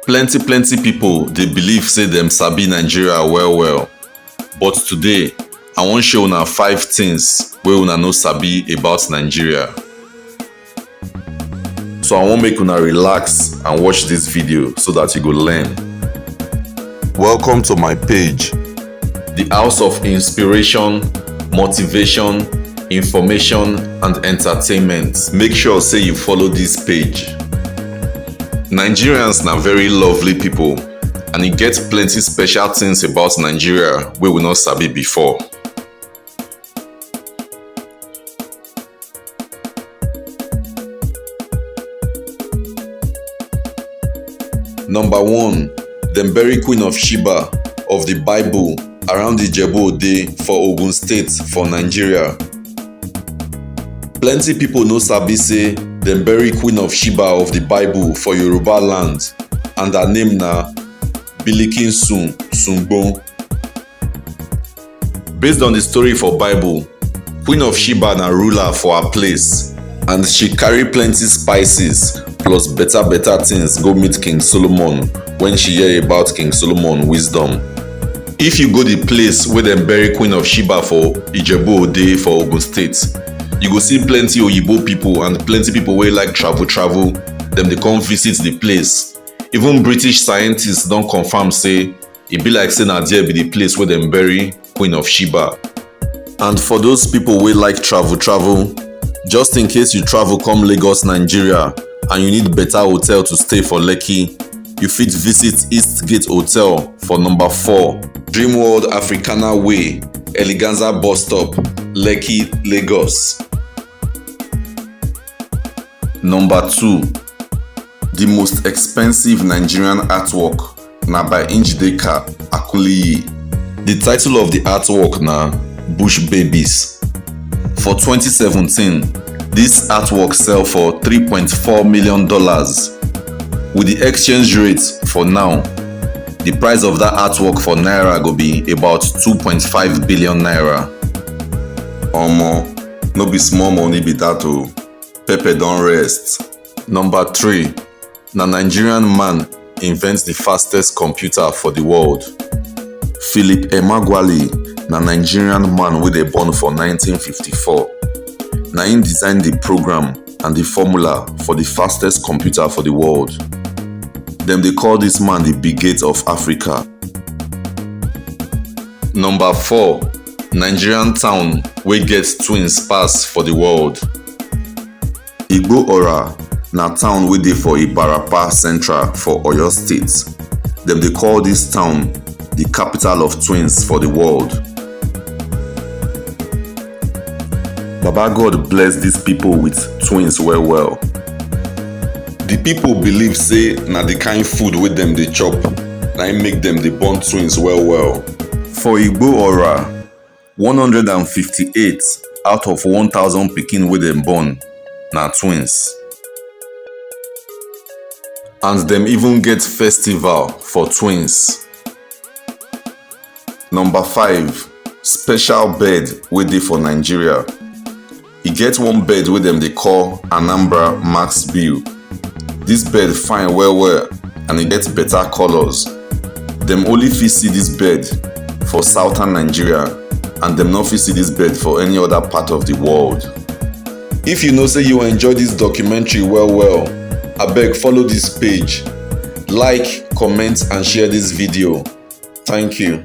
plenty plenty pipo dey believe say dem sabi nigeria well well but today i wan show una five things wey una no sabi about nigeria so i wan make una relax and watch dis video so dat you go learn welcome to my page di house of inspiration motivation information and entertainment make sure say you follow dis page nigerians na very lovely pipo and e get plenty special tins about nigeria wey we no sabi before Number one, dem bury Queen of Sheba of the Bible around Ijebu Ode for Ogun State for Nigeria. Plenty people no sabi say dem bury Queen of Sheba of the Bible for Yoruba land and her name na Bilikin Sun Sungbon. Based on di story for Bible, Queen of Sheba na ruler for her place and she carry plenty spices plus beta beta things go meet King Solomon when she hear about King Solomon wisdom. If you go di place wey dem bury Queen of Sheba for Ijebu Ode for Ogun State, you go see plenty oyibo people and plenty people wey like travel travel, dem dey come visit di place. Even British scientists don confirm say e be like say na there be the place wey dem bury Queen of Sheba. And for those people wey like travel travel, just in case you travel come Lagos, Nigeria and you need better hotel to stay for Lekki, you fit visit East Gate Hotel for number 4, Dream World Africana Way, Eleganza Bus Stop, Lekki, Lagos. Number two, the most expensive Nigerian artwork na by Njideka Akuliyi. The title of the artwork na Bush Babies. For 2017, this artwork sell for $3.4 million. With the exchange rate for now, the price of that artwork for Naira go be about 2.5 billion Naira. Omo, No be small money be that o. Pepe don rest. Number three, na Nigerian man invent the fastest computer for the world. Philip Emeagwali na Nigerian man wey dey born for 1954. Na him design the program and the formula for the fastest computer for the world. Dem dey call this man the Bill Gates of Africa. Number four, Nigerian town wey get twins pass for di world. Igbo-Ora na town wey dey for Ibarapa Central for Oyo State. Dem dey call dis town di capital of twins for di world. Baba God bless dis pipo wit twins well well. Di pipo believe sey na di kain food wey dem dey chop na im make dem dey born twins well well. For Igbo Ora, 158 out of 1,000 pikin wey dem born na twins. And dem even get festival for twins. Number 5, special bird wey dey for Nigeria. E get one bird wey dem dey call Anambra Max Bill. Dis bird fine well well and e get better colours. Dem only fit see dis bird for southern Nigeria and dem no fit see dis bird for any other part of the world. If you know say you enjoy dis documentary well well, abeg follow dis page, like, comment and share dis video. Thank you.